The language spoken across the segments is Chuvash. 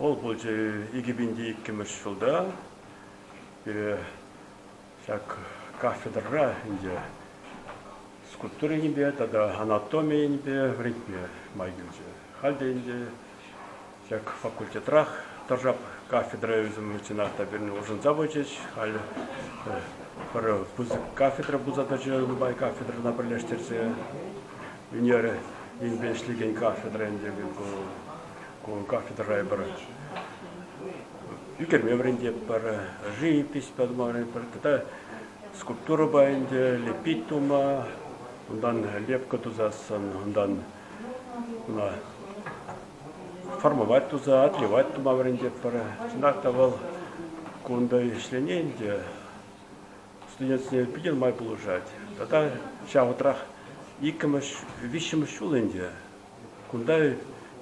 Вӑл пулчӗ икӗ пинти иккӗмӗш ҫулта. Ҫак кафедрӑра ӗнтӗ скульптура енӗпе тата анатоми енӗпе вӗрентме май килчӗ. Халь те ӗнтӗ ҫак факультетрах тӑршап кафедра ӳсӗм чӑнах та пирӗн улшӑнса пычӗҫ. Халь пӗр пысӑк кафедра пулса тӑчӗ нумай кафедрӑна пӗрлештерсе. Ӳнер енпе ӗҫлекен кафедра ӗнтӗ ку Ку кафедра эпир ӳкерме вӗрентетпӗр, живопись тума вӗрентетпӗр тата скульптурӑпа ӗнтӗ лепить тума, унтан лепка тусассӑн, унтан формовать туса, отливать тума вӗрентетпӗр. Чӑнах та вӑл кунта ӗҫлени ӗнтӗ студентсене питӗ нумай пулӑшать. Тата ҫав вӑхӑтрах иккӗмӗш, виҫҫӗмӗш ҫул ӗнтӗ Кунта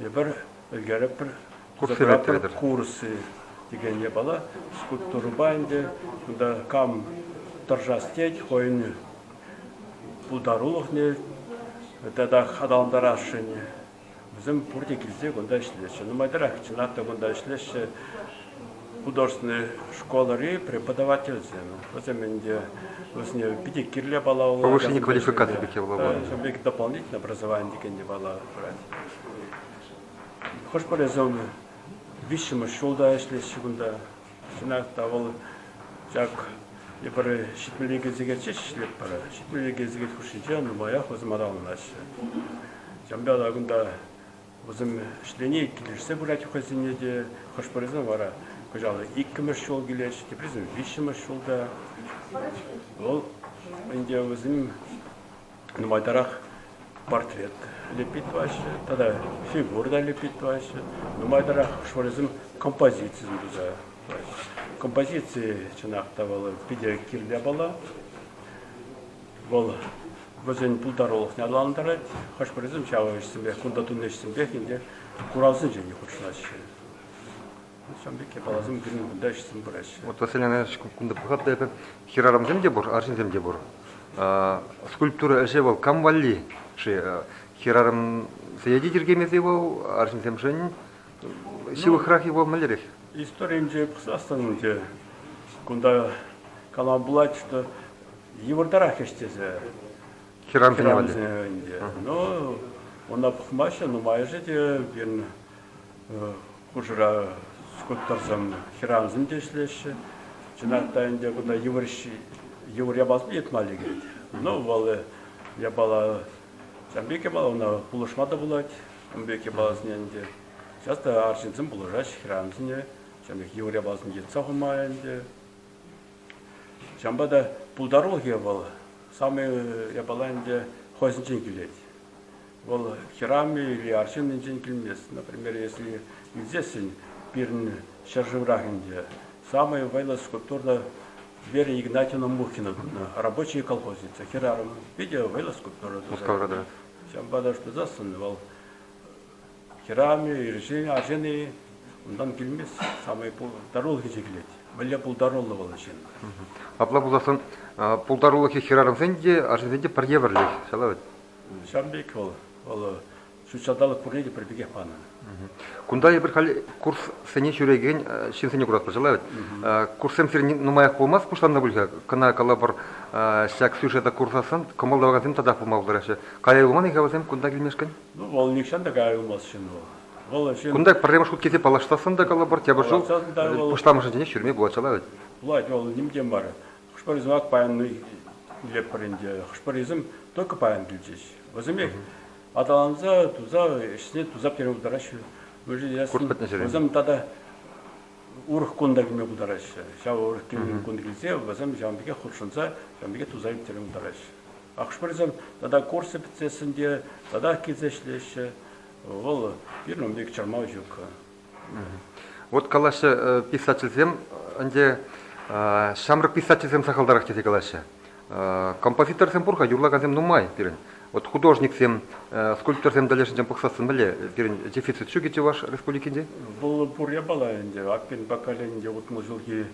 эпир ӗлкеретпӗр, фотографи курсӗ текен япала. Скульптурӑпа ӗнтӗ кунта кам тӑрӑшас тет, хӑйӗн пултарулӑхне тата аталантарасшӑн. Вӗсем пурте килсе кунта ӗҫлеҫҫӗ. Нумайтарах чӑнах та кунта ӗҫлеҫҫӗ. художественнӑй школӑри преподавательсем. Вӗсем ӗнтӗ вӗсене питӗ кирлӗ пала Повышение квалификации кадров пике Бек дополнительное образование текен те пала пырать. Хӑш-пӗрисем виҫҫӗмӗш ҫулта ӗҫлеҫҫӗ кунта. Чӑнах та вӑл ҫак эпир ҫитмӗле сехетче ӗҫлетпӗр. Ҫитмӗле сехет хушшинче нумаях вӑсматаланаҫҫӗ. Ҫавӑнпа та кунта Вӗсем ӗҫлени килӗшсе пырать хӑйсене те. Хӑш-пӗрисем вара кӑҫал иккӗмӗш ҫул килет, теприсем виҫҫӗмӗш ҫулта. Вӑл ӗнтӗ вӗсем нумайтарах портрет лепет тӑваҫҫӗ тата фигура та лепет тӑваҫҫӗ. Нумайтарах хӑш-пӗрисем композицисем туса тӑваҫҫӗ. Композици чӑнах та вӑл питӗ кирлӗ япала. Вӑл вӗсен пултарулӑхне аталантарать. Хӑш-пӗрисем ҫав ӗҫсемпех, кунта тунӑ ӗҫсемпех ӗнтӗ куравсенчен те хутшӑнаҫҫӗ. Ҫавӑн пек япаласем пирӗн кунта ӗҫсем пыраҫҫӗ. Вот Василина кунта пӑхатӑп та эпӗ, хӗрарӑмсем те пур, арҫынсем те пур. Скульптура ӗҫӗ вӑл кам валли-ши? Хӗрарӑмсене те тиркемесен вӑл, арҫынсемшӗн ҫывӑхрах-и вӑл, мӗнлерех? Историйӗнче пӑхсассӑн ӗнтӗ кунта калама пулать, что йывӑртарах ӗҫ тесе хӗрарӑмсене ӗнтӗ. Ну, ӑна пӑхмаҫҫӗ, нумайӑшӗ те пирӗн хушӑра скуттарсан хӗрарӑмсем те ӗҫлеҫҫӗ. Чӑнах та ӗнтӗ кунта йывӑр йывӑр япаласем йӑтма лекет. Ну, вӑл япала ҫавӑн пек япала ӑна пулӑшма та пулать. Ун пек япаласене ӗнтӗ Сейчас та арҫынсем пулӑшаҫҫӗ хӗрарӑмсене. Ҫавӑн пек йывӑр япаласем йӑтса хума ӗнтӗ. Ҫавӑнпа та пултарулӑхӗ вӑл самый япала ӗнтӗ хӑйсенчен килет. Вӑл хӗрам-и или арҫын енчен килмест. Например, если илсессӗн пирӗн ҫӗршыврах ӗнтӗ, самый вӑйлӑ скульптура Вера Игнатьевна Мухина тунӑ «Рабочие колхозницы». Хӗрарӑм питӗ вӑйлӑ скульптура туса. Ҫавӑнпа та тусассӑн вӑл Хӗрарӑмӗ ирӗксен арҫын-и, унтан килмест. Самай пултарулӑхӗ чикӗлет. Мӗнле пултаруллӑ вӑл ҫын? Апла пулсассӑн пултарулӑхӗ хӗрарӑмсен те, арҫынсен те пӗр евӗрлех, ҫавна вӗт. Ҫавӑн пек вӑл, вӑл ҫут ҫанталӑк пурне те пӗр пекех панӑ. Кунта эпир халь курссене ҫӳрекен ҫынсене куратпӑр, ҫала вӗт. Курссем сирӗн нумаях пулмасть пуҫланнӑ пуль-ха. Кӑна калӑпӑр, ҫак сюжета курсассӑн кӑмӑл тӑвакансем татах пулма пултараҫҫӗ. Кая юлман-и-ха вӗсем кунта килмешкӗн? Вӑл нихҫан та каялмастҫын вӑл. Вӑл ҫын... Кунта пӗрремӗш хут килсе паллаштассӑн та калӑпӑр, тепӗр ҫул пуҫламӑшӗнче ҫӳреме пулать ҫала вӗт. Пулать, вӑл ним те мар. Хӑш-пӗр йӑсӑмах паян илетпӗр ӗнтӗ. Хӑш-пӗр йӑсӑм только паян килчӗҫ. Вӗсемех аталанса туса ӗҫсене туса пӗтерме пултараҫҫӗ. Курт пӗтнӗ ҫӗре. Вӗсем тата урӑх кунта килме пултараҫҫӗ. Ҫав урӑх кун килсе вӗсем ҫавӑн пекех хутшӑнса ҫавӑн пекех туса ӳктерме пултараҫҫӗ. Ахшпӗрсем тата курсы пӗтсессӗн те татах килсе ӗҫлеҫҫӗ. Вӑл пирӗн ун пек чӑрмав ҫук. Вот калаҫҫӗ писательсем, ӗнтӗ ҫамрӑк писательсем сахалтарах тесе калаҫҫӗ. Композиторсем пур-ха, юрлакансем нумай пирӗн. Вот художниксем, скульпторсем тӗлӗшӗнчен пӑхсассӑн мӗнле пирӗн дефицит ҫукӗ Чӑваш Республикинче? Вӑл пур япала ӗнтӗ. Акпин поколенинче утмӑл ҫулхи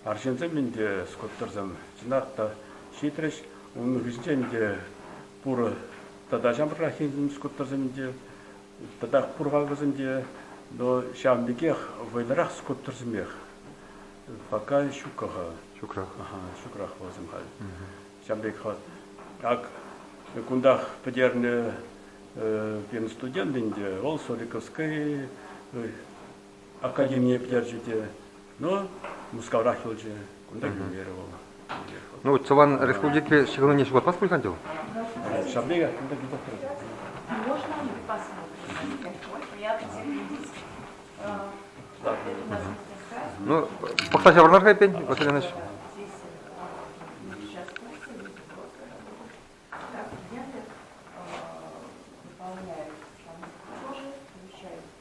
арҫынсем ӗнтӗ скульпторсем чӑнах та ҫитрӗҫ. Унӑн хыҫӗнче ӗнтӗ пур тата ҫамрӑкраххин скульпторсем ӗнтӗ Татах пур-ха вӗсем те, но ҫавӑн пекех вӑйлӑрах скульпторсемех. Пока ҫукка-ха. Ҫукрах. Ага, ҫукрах вӗсем халь. Ҫавӑн пек Ак кунтах пӗтернӗ пирӗн студент ӗнтӗ, вӑл Соликовская академине пӗтерчӗ те, ну, Мускаврах юлчӗ. Кунта ӳкерӗ вӑл. Ну, Цӑван республикипе ҫыхӑнуне ҫухатмасть пуль пуль? Ҫапли, кунта питӗ Можно Ну, пӑхса ҫаврӑнар-ха эппин, Василий Иванович.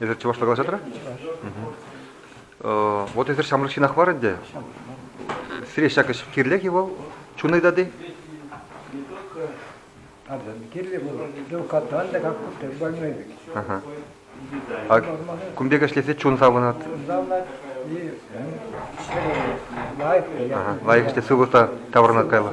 Эсир чӑвашла калаҫа тӑра? Вот эсир ҫамрӑк ҫынах мар ӗнтӗ. Сире ҫак ӗҫ кирлех-и вӑл? Чун ыйтать-и? Кирлӗ пулать. Катран та как куптать больной бит. А кун пек ӗҫлесе чун савӑнать. Лайӑх ӗҫле сывлӑха таврӑнать кайла.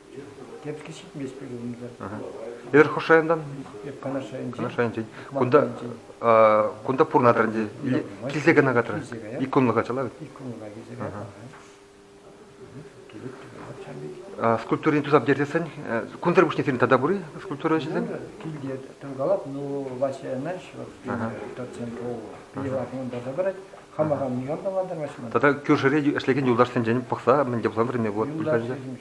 Эпир хӑш районтан? Канаш районӗнчен. Канаш районӗнчен. Кунта кунта пурӑна тӑрӑр килсе кӑна катрӑр. Ик кунлӑха чӑла вӗт. Ик кунлӑха килсе катрӑр. Скульптурине тусап йӗртесен, кунсӑр пуҫне сирӗн тата пур-и скульптура ӗҫӗсем? Килте тӑнкалап, ну, Вася Энаш, тот центр пиво кун таса парать. Хама хам никам та мантармаҫман. Тата кӳршӗре ӗҫлекен юлташсенчен пӑхса мӗнле пулсан вӗреме пулать?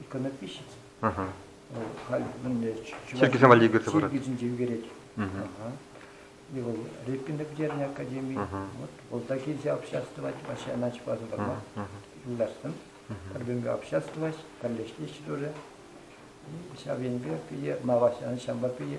иконопись. Халь мӗнле чиркӳсем валли ӳкерсе парать. Чиркӳсенче ӳкерет. И вӑл Репина пӗтернӗ академи. Вот вӑлта килсе обществовать вообще начпасын парма юлдастым. Пӗрбенге обществовать, пӗрлештерчӗ тоже. Ҫав енпе пие, мавасяны ҫамба пие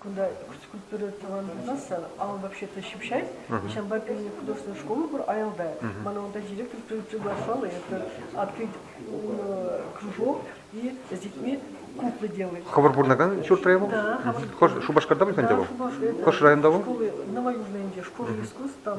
Кунта культура тӑван пулмасан, авал вообще-то ҫыпҫать. Ҫавӑнпа пирӗн художественная школа пур аялта. Ман авалта директор приглашал, это открыть кружок и с детьми куклы делать. Хӑвӑр пурӑнакан ҫуртра его? Да. Хӑш Шупашкарта пуль ӗнтӗ вӑл? Шупашкар. Хӑш районта вӑл? Школы, Новоюжные школы искусств, там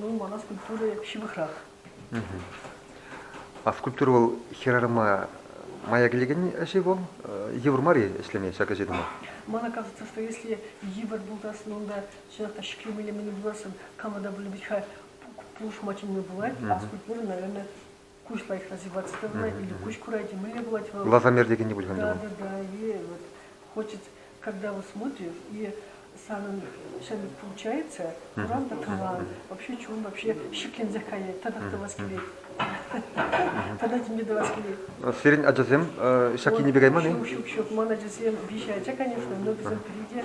Ну, мана скульптура ҫывӑхрах. А скульптура вӑл хӗрарӑма мая килекен ӗҫ-и вӑл? Йывӑр мар-и ӗҫлеме ҫак ӗҫе тума? Мана кажется, что если йывӑр булдасӑн, унта чӑнах шикленӗ элемент буласӑн кому-то, может быть, хай пулӑшма тӗлне пулать, а скульптура, наверное, куҫ лайӑхра ҫупать сывлать или куҫ курать, мӗнле пулать? Лазамер текенни пуль ӗнтӗ вӑл. Да, да, и вот хочется, когда вот смотришь, и санӑн ҫын получается, куран та тӑван, вообще чун вообще шикленсе каять, тӑтӑх тӑвас килет. Тата тем тӑвас килет. Сирӗн ачасем ҫак енӗпе кайман-и? Ҫук, ҫук, ҫук. Ман ачасем виҫӗ ача, конечно, но вӗсем пӗри те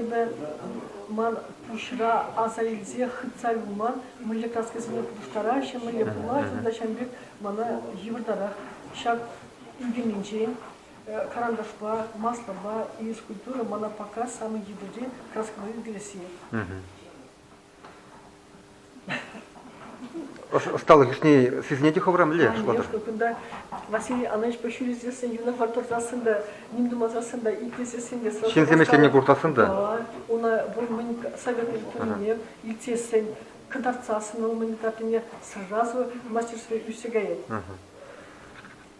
Эпӗ ман пуҫра аса илсе хытса юлма мӗнле каскӑсене пуҫтараҫҫӗ, мӗнле пулать, унта ҫавӑн пек мана йывӑртарах. Ҫак ӳкӗнӗнчен карандашпа, маслӑпа, физкультура мана пока самый йывӑрри краскӑна ӳкересси. Ӑсталӑх ӗҫне сисӗне те хӑвра мӗнле шутлатӑр? Кунта Василий Ананичпа ҫӳресессӗн, юнашар тӑрсассӑн та, ним тумасассӑн та, итлесессӗн те сӑн. Ҫынсем ӗҫлеме пуртассӑн та. Уна пур мӗн советуй пулнине илтсессӗн, кӑтартсассӑн вӑл мӗн картине сразу мастерстве ӳссе каять.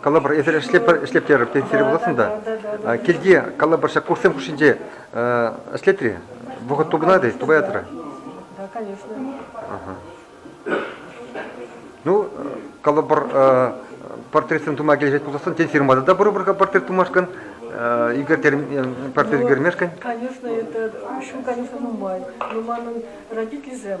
Калӑпӑр, эсир ӗҫлеттерӗр пенсире пуласӑн та. Килти, калӑпӑр, ҫак курссем хушшинче ӗҫлет-и? Вӑхӑт тупӑнать-и? Тупаятӑр-и? Да, конечно. Ну, калӑпӑр, портретсем тума килӗшет пулсассӑн, тен, фирмада та пурӑпӑр-ха портрет тумашкӑн, Игорь портрет ӳкермешкӗн? Конечно, это, в общем, конечно, нумай. Но манӑн родительсем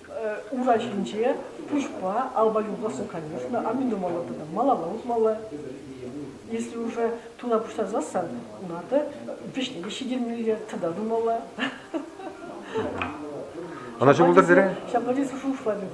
Ура ҫинче пуҫпа алпа юлташлӑ конюшня, аминомалла тата малалла утмалла. Если уже туна пуҫтарсассан, унарта вӗҫне те ҫитермелле, тата тумалла. Ӑна ҫӑмӑлтарсере? Ҫапла тесе шутлатӑп.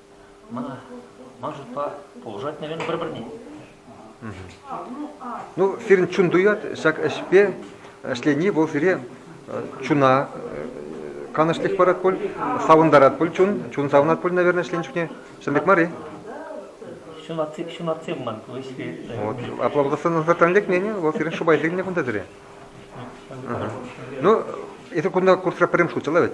Мана ман шутпа пулӑшать мелӗн пӗр-пӗрне. Ну, сирӗн чун туять ҫак ӗҫпе ӗҫлени вӑл сире чуна канӑҫлӑх парать пуль, савӑнтарать пуль чун, чун савӑнать пуль, наверное, ӗҫленӗ чухне. Ҫын пек мар-и? Ҫунатсем, ҫунатсем ман ку ӗҫре. Вот, аплодосӑнсӑртан лекнӗне вӑл сирӗн шӑпа илтӗннӗ кунта сире. Ну, эсир кунта курсра пӗрремӗш хутчӗ вӗт?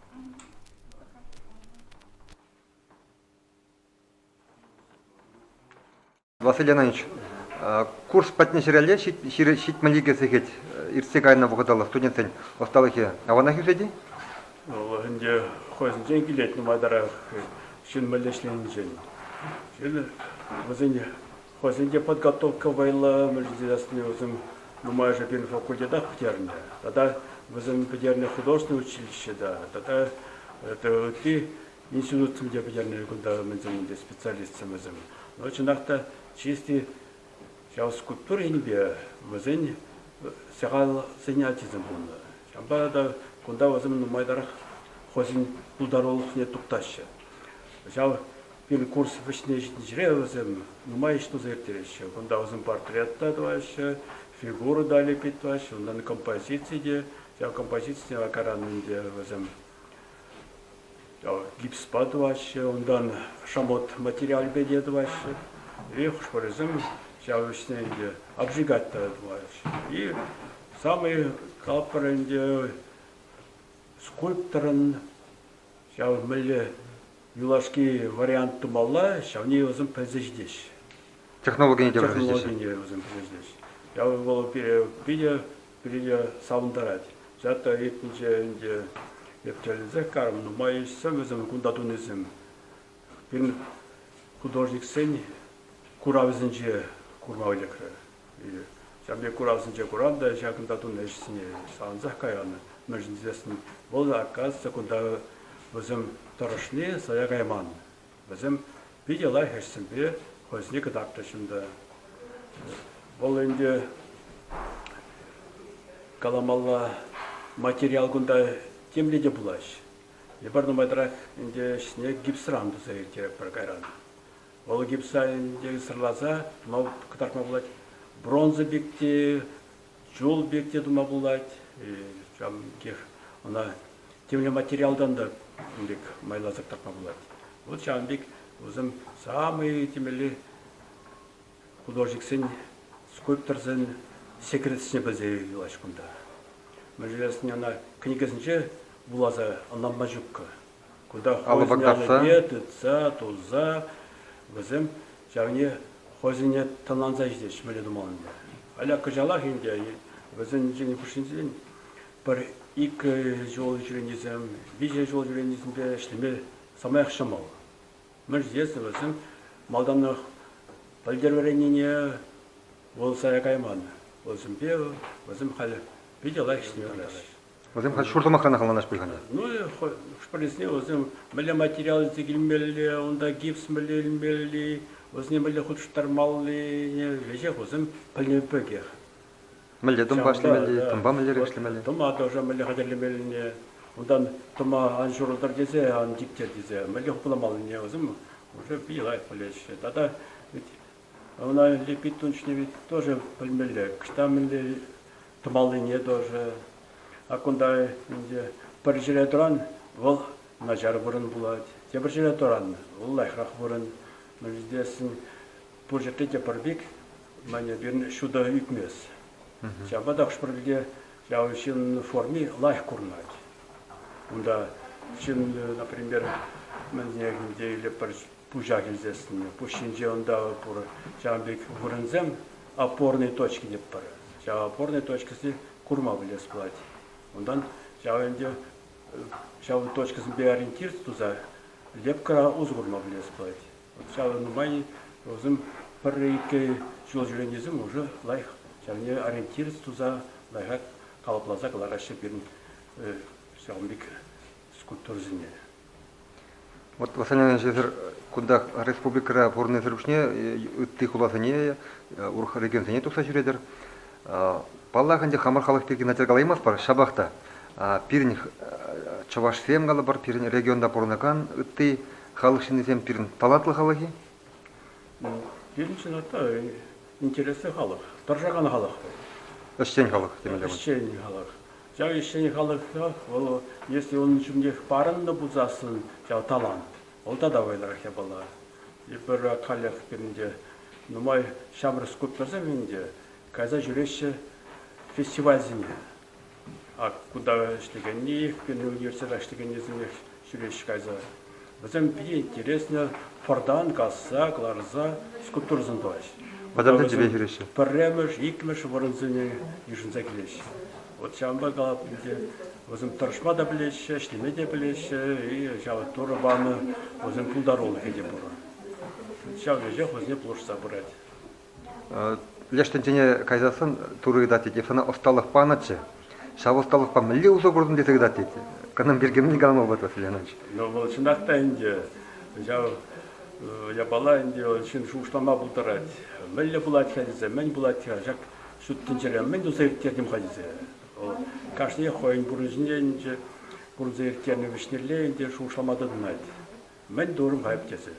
Василий Иванович, курс патне ҫӗрелле ҫитмелле сехет иртсе кайнӑ вӑхӑталла студентсен ӑсталӑхӗ аванах ӳсет-и? Вӑл ӗнтӗ хӑйсенчен килет нумайтарах ҫын мӗнле ӗҫленинчен. Вӗсен Хӑйсен те подготовка вӑйлӑ ӗмӗр ҫитерессине вӗсем нумайӑшӗ пирӗн факультетах пӗтернӗ. Тата вӗсем пӗтернӗ художественнӑй училище та тата ытти институтсем те пӗтернӗ кунта ӗмӗрсен те специалистсем вӗсем. Но чӑнах та чисти ял скульптура енӗпе вӗсен сахалсен ачисем пулнӑ. Ҫавӑнпа та кунта вӗсем нумайтарах хӑйсен пултарулӑхне туптаҫҫӗ. Ҫав курс вӗҫне ҫитнӗҫӗре вӗсем нумай ӗҫ туса ирттереҫҫӗ. Кунта вӗсем портрет та тӑваҫҫӗ, фигура та лепет тӑваҫҫӗ. Унтан композици те, ҫав композици акаран ӗнтӗ вӗсем гипспа тӑваҫҫӗ, унтан шамот материалӗпе те тӑваҫҫӗ. И хӑшпӗрисем ҫав ӗҫне ӗнтӗ обжигать та тӑваҫҫӗ. И самый таппӑр ӗнтӗ скульпторӑн ҫав мӗнле юлашки вариант тумалла, ҫавне вӗсем пӗлсе ҫитеҫҫӗ. Технологине те вӗрентеҫҫӗ. Технологине вӗсем пӗлсе Ҫав вӑл питӗ питӗ савӑнтарать. Зята иртнӗҫe ӗнтӗ ептелӗсех карӑм нумай ӗҫсем вӗсем кунта тунисем. Пирӗн художниксен куравӗсенче курма лекрӗ. Ҫав пек куравсенче курав та ҫакӑнта тунӑ ӗҫсене савӑнсах каянӑ. Мӗншӗн тесен вӑл, оказывается, кунта вӗсем тӑрӑшни сая кайман. Вӗсем питӗ лайӑх ӗҫсемпе хӑйсене кӑтартрӗҫ унта. Вӑл ӗнтӗ каламалла материал кунта темле те пулаҫ. Эпир нумайтрах ӗнтӗ ӗҫне гипсран туса ирттеретпӗр кайран. Вӑл гипсалӗнче сӑрласа кӑтартма пулать. Бронза пек те, чул пек те тума пулать. Ҫавӑн пекех ӑна темле материалтан та кун пек майласа кӑтартма пулать. Вот ҫавӑн пек вӗсем самые темелли художниксен, скульпторсен секретсене пӗлсе юлаҫ кунта. Мӗншӗн ӑна кӗнекесенче вуласа ӑнланма ҫуккӑ. Алӑ вӑрттарса тытса, тулса вӗсем ҫавне хӑйсене тӑнланса ҫитеҫҫӗ мӗнле тумалла ӗнтӗ. Аля кӑҫалах ӗнтӗ вӗсен ҫӗнӗ хушшинчен пӗр икӗ ҫул ҫӳренисем, виҫӗ ҫул ҫӳренисемпе ӗҫлеме самаях ҫӑмӑл. Мӗншӗн тесен вӗсем малтанах пӗлтерӗвӗреннине вуласа кайман. Вӗсемпе вӗсем халь питӗ лайӑх ӗҫлеме тӑраҫҫӗ. Вӗсем ҫур сӑмахран хӑтланаш пуль-ха ӗнтӗ. Ну, хӑш-пӗрисене вӗсем мӗнле материал илсе килмелли, унта гипс мӗнле илмелли, вӗсене мӗнле хутӑштармалли, веҫех вӗсем пӗлнӗ пекех. Мӗнле тӑмпа ӗҫлемелли, э, тӑмпа мӗнлерех ӗҫлемелли? Тӑма тоже мӗнле хатӗрлемеллине, унтан тӑма ан ҫурӑлтӑр тесе, ан типтер тесе мӗнле хупламаллине вӗсем уже питӗ лайӑх пӗлеҫҫӗ. Тата Ӑна липид тунчне ведь тоже пӗлмелле, ӑҫта мӗнле тӑмаллине тоже. А кунта 이제 пӗр ҫӗре тӑран вӑл начар вырӑн пулать. Тепӗр ҫӗре тӑран вӑл лайӑхрах вырӑн. Мӗн ҫитесӗн пур ҫӗрте те пӗр пек, мане пирӗн ҫутӑ ӳкмест. Ҫавӑнпа та хӑш-пӗр пӗлте ҫав ҫын форми лайӑх курӑнать. Унта ҫын, например, мӗн тенекенде или пӗр пуҫах илсессӗн пуҫ ҫинче ӑнта пур ҫавӑн пек вырӑнсем опорные точки тетпӗр ҫав опорные точкӑсене курма пӗлес пулать унтан ҫав ӗнтӗ ҫав точкӑсемпе ориентир туса лепкӑра усӑ курма пӗлес пулать ҫав нумай вӗсем пӗр-икӗ ҫул ҫӳренисем уже лайӑх ҫавне ориентир туса лайӑхах калӑпласа кӑлараҫҫӗ пирӗн ҫавӑн пек скульптурӑсене Вот восстановленнӑҫесӗр кунтах республикӑра пурӑннисӗр пуҫне ытти хуласене, урӑх регионсене тухса ҫӳретӗр. Паллах, ӗнтӗ хамӑр халӑх пирки начар калаймастпӑр, ҫапах та пирӗн чӑвашсем калӑпӑр, пирӗн регионта пурӑнакан ытти халӑх ҫыннисем пирӗн талантлӑ халӑх-и? Пирӗн чӑнах та интереслӗ халӑх, тӑрӑшакан халӑх вӑл. Ӗҫчен халӑх темелле. Ӗҫчен халӑх. Ҫав ӗҫчен халӑха вӑл, если унӑн ҫумнех парӑннӑ пулсассӑн, ҫав талант, вӑл тата вӑйлӑрах япала. Эпир халех пирӗнте нумай ҫамрӑк скульпторсем ӗнтӗ кайса ҫӳреҫҫӗ фестивальсене. Ак кунта ӗҫлекенни, пирӗн университетра ӗҫлекеннисемех Ҫӳреҫ кайса, вӗсем питӗ интереснӗ пӑртан касса кӑларса скульптурӑсем тӑваҫҫӗ. Вӑтам тӗнчепе ҫӳреҫҫӗ. Пӗрремӗш, иккӗмӗш вырӑнсене йышӑнса килеҫҫӗ. Вот ҫавӑнпа калап ӗнтӗ, вӗсем тӑрӑшма та пӗлеҫҫӗ, ӗҫлеме те пӗлеҫҫӗ, и ҫавӑ Турӑ панӑ вӗсен пултарулӑхӗ те пур. Ҫав веҫех вӗсене пулӑшса пырать. Леш тӗнчене кайсассӑн Турӑ ыйтать, тет, эп сана ӑсталӑх панӑччӗ, ҫав ӑсталӑхпа мӗнле усӑ куртӑн тесе ыйтать, тет. Кӑнӑм пирки мӗн калама пулать Ленӑч? Ну, вӑл чӑнах та ӗнтӗ ҫав япала ӗнтӗ вӑл ҫын шухӑшлама пултарать. Мӗнле пулать-ха тесе, мӗн пулать-ха ҫак ҫут тӗнчере, мӗн туса ирттертӗм-ха тесе. Вӑл кашниех хӑйӗн пурнӑҫӗнче ӗнтӗ пурӑнса ирттернӗ вӗҫнелле ӗнтӗ шухӑшлама тытӑнать. Мӗн турмайӑп тесе.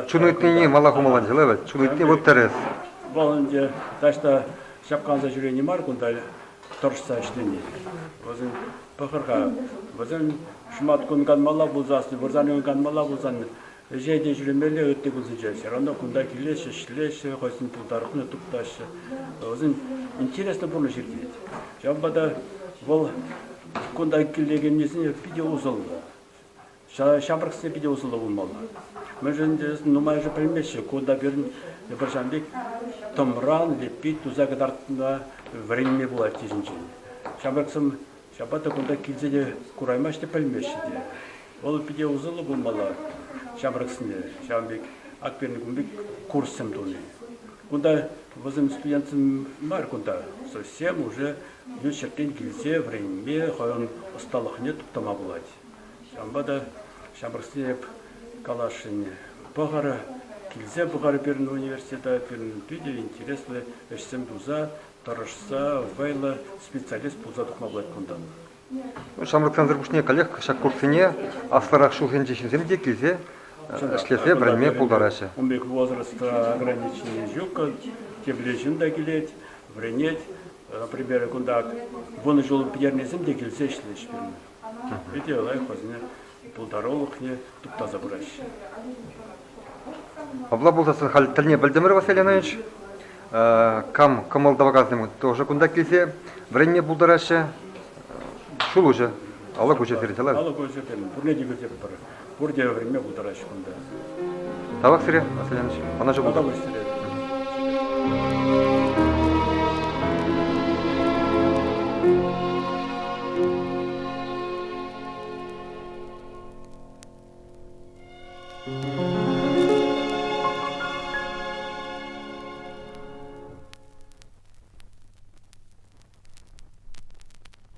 Чун ыйтнине мала хумалла ҫӑла вӗт. Чун ыйтни вӑл тӗрӗс. Вӑл ӗнтӗ таҫта ҫапкаланса ҫӳрени мар кунта тӑрӑшса ӗҫлени. Вӗсен пӑхӑр-ха, вӗсен шӑматкун канмалла пулсан, вырсарни канмалла пулсан, ӗҫе те ҫӳремелле ытти кунсенче. Все равно кунта килеҫҫӗ, ӗҫлеҫҫӗ, хӑйсен пултарулӑхне туптаҫҫӗ. Вӗсен интереслӗ пурнӑҫ иртет. Ҫавӑнпа та вӑл кунта килекеннисене питӗ усӑллӑ. Ҫамрӑксене питӗ усӑллӑ пулмалла. Мӗншӗн нумайӑшӗ пӗлмеҫҫӗ, ку та пирӗн пӗрҫан пек тӑмран леппи туса кӑтартма вӗренме пулать килӗнчен. Ҫамрӑксем ҫапла та кунта килсе те кураймаҫҫӗ те, пӗлмеҫҫӗ те. Вӑл питӗ усӑллӑ пулмалла ҫамрӑксене ҫавӑн пек ак пирӗн кун пек курссем туни. Кунта вӗсем студентсем мар кунта, совсем уже ют ҫӗртен килсе вӗренме хӑйӗн ӑсталӑхне туптама пулать. Ҫавӑнпа та ҫамрӑксене эп каласшӑнне пӑхӑр, килсе пӑхӑр пирӗн университета, пирӗн питӗ интереслӗ ӗҫсем туса, тӑрӑшса, вӑйлӑ специалист пулса тухма пулать кунта. Ҫамрӑксансӑр пуҫне каллех ҫак курссене аслӑрах ҫулсенчи ҫынсем те килсе ӗҫлесе вӗренме пултараҫҫӗ. Ун пек возраста ограничений ҫук, кирлӗ ҫын та килет, вӗренет. Например, кунта вунӑ ҫул пӗтернисем те килсе ӗҫлӗҫ пирӗн. Питӗ лайӑх вӗсене пултарулӑхне туптаса пыраҫҫӗ. Апла пулсассӑн халь тӗлне пӗлтӗмӗр, Василий Иванович. Кам кӑмӑл тӑвакансем тоже кунта килсе вӗренме пултараҫҫӗ. Ҫул уҫӑ, алӑк уҫӑ сирӗн тӑла. Алӑк уҫӑ, пурне те кӳтӗпӗр. Пурте вӗренме пултараҫҫӗ кунта. Тавах сире, Василий Иванович. Ӑнӑҫу пултӑр.